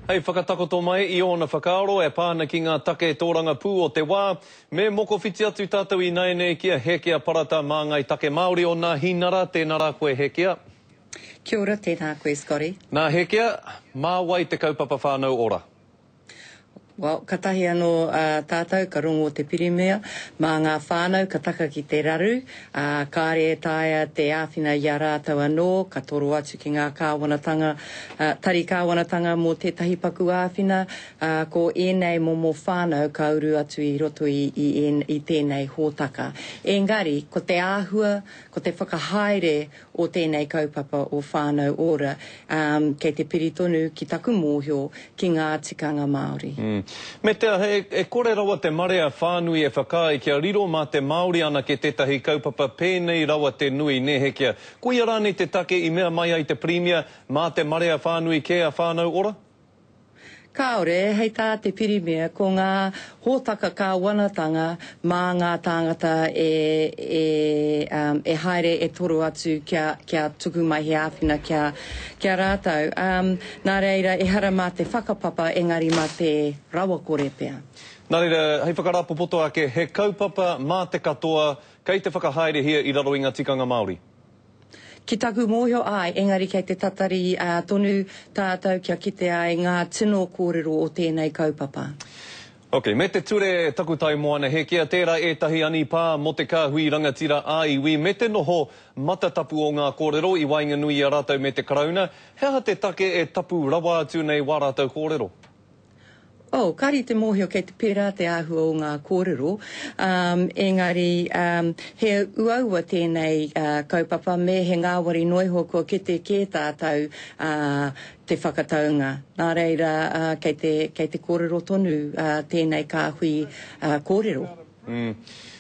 Hei whakatakoto mai i ōna whakaaro e pā ana ki ngā take tōrangapū o te wā, me mokowhiti atu tātou ināianei ki a Hēkea Parata mā Ngāi Take Māori o Nā Hinara, tēnā rā koe Hēkea. Kia ora, tēnā koe Scotty. Nā Hēkea, mā wai te kaupapa whānau ora? Well, katahi ano a tatou ka rongo te pirimia ma nga whanau ka taka ki te raru, a kare e taea te awhina i a ratou ano ka toro atu ki nga kawanatanga, a tari kawanatanga mo tetahi paku awhina, a ko enei momo whanau ka uru atu i roto i i i tenei hotaka. Engari, ko te ahua, ko te whakahaere o tēnei kaupapa o Whānau Ora, kei te piri tonu ki taku mōhio ki ngā tikanga Māori. Me te aha, e kore rawa te marea whānui e whakaae kia riro mā te Māori anake tētahi kaupapa pēnei rawa te nui, nē Hekea? Koia rānei te take i mea mai ai te Pirimia, mā te marea whānui kē a Whānau Ora? Kāore, hei tā te Pirimia, ko ngā hōtaka kāwanatanga mā ngā tāngata e, e, um, e haere e toro atu kia, kia tuku mai he āwhina kia, kia rātou. Um, nā reira, ehara mā te whakapapa, engari mā te rawakore pea. Nā reira, hei whakarāpopoto ake, he kaupapa mā te katoa kei te whakahaerehia i raro i ngā tikanga Māori. Ki taku mōhio āe, engari kei te tatari tonu tātou kia kite ai ngā tino kōrero o tēnei kaupapa. Ok, me te ture takutai moana Hēkea, tērā ētahi anipā mō te kāhui rangatira ā-iwi me te noho matatapu o ngā kōrero i waenganui i a rātou me te Karauna, he aha te take e tapu rawa atu nei wā rātou kōrero? Oh, kāre i te mōhio kei te pērā te āhua o ngā kōrero, um, engari um, he uaua tēnei uh, kaupapa me he ngāwari noa iho kua kete kē tātou uh, te whakataunga. Nā reira, uh, kei, te, kei te kōrero tonu uh, tēnei kāhui uh, kōrero. Mm.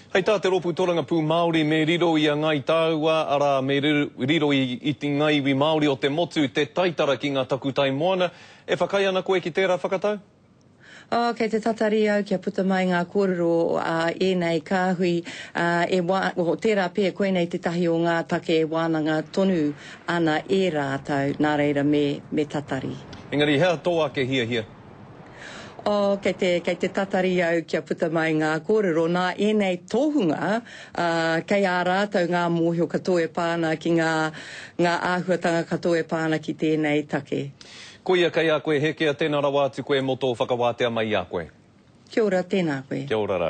Hei tā te rōpū torangapū Māori me riro i a Ngai Tāua, arā, me riro i, i te ngā iwi Māori o te motu te taitara ki ngā takutai moana, E whakaae ana koe ki tērā whakatau? Oh, kei te tatari au kia puta mai ngā kōrero a ēnei kāhui, ā, e wā, oh, tērā pea, koinei tētahi o ngā take e wānanga tonu ana e rātou, nā reira me, me tatari. Engari hea tō ake hiahia? Oh, kei te, kei te tatari au kia puta mai ngā kōrero nā ēnei tohunga, ā, kei a rātou ngā mōhio katoa e pā ana ki ngā, ngā āhuatanga katoa e pā ana ki tēnei take. Koia kei a koe Hēkea tēnā rawa atu koe mō tō whakawātea mai i a koe. Kia ora, tēnā koe. Kia ora ra.